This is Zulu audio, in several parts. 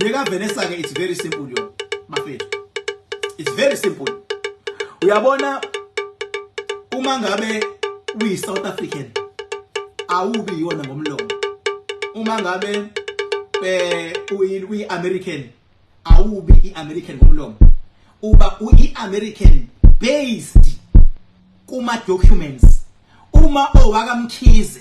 le ka Vanessa ke it's very simple yo bafethu it's very simple uyabona uma ngabe uyi South African awubi yona ngomlomo uma ngabe eh uyi American awubi i American ngomlomo uba uyi American based kuma documents uma owakamkhize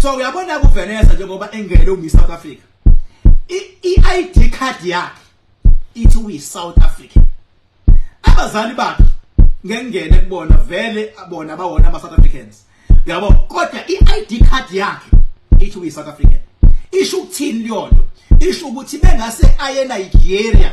so uyabona ku Vanessa njengoba engene u Miss South Africa i ID card yakhe ithi uyi South African abazali bakhe ngengene kubona vele bona bawona ama South Africans yabo kodwa i ID card yakhe ithi uyi South African isho ukuthini leyonto isho ukuthi bengase aye Nigeria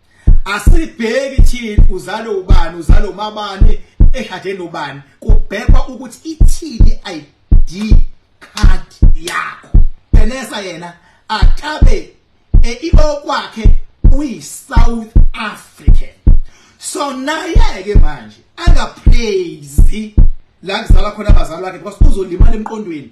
asibheki thina uzale ubani uzale umabani eshade nobani kubhekwa ukuthi ithini ID card yakho Benesa yena akabe e, iokwakhe uyi South African so naye ke manje anga praise la kuzala khona abazali bakhe because uzolimala emqondweni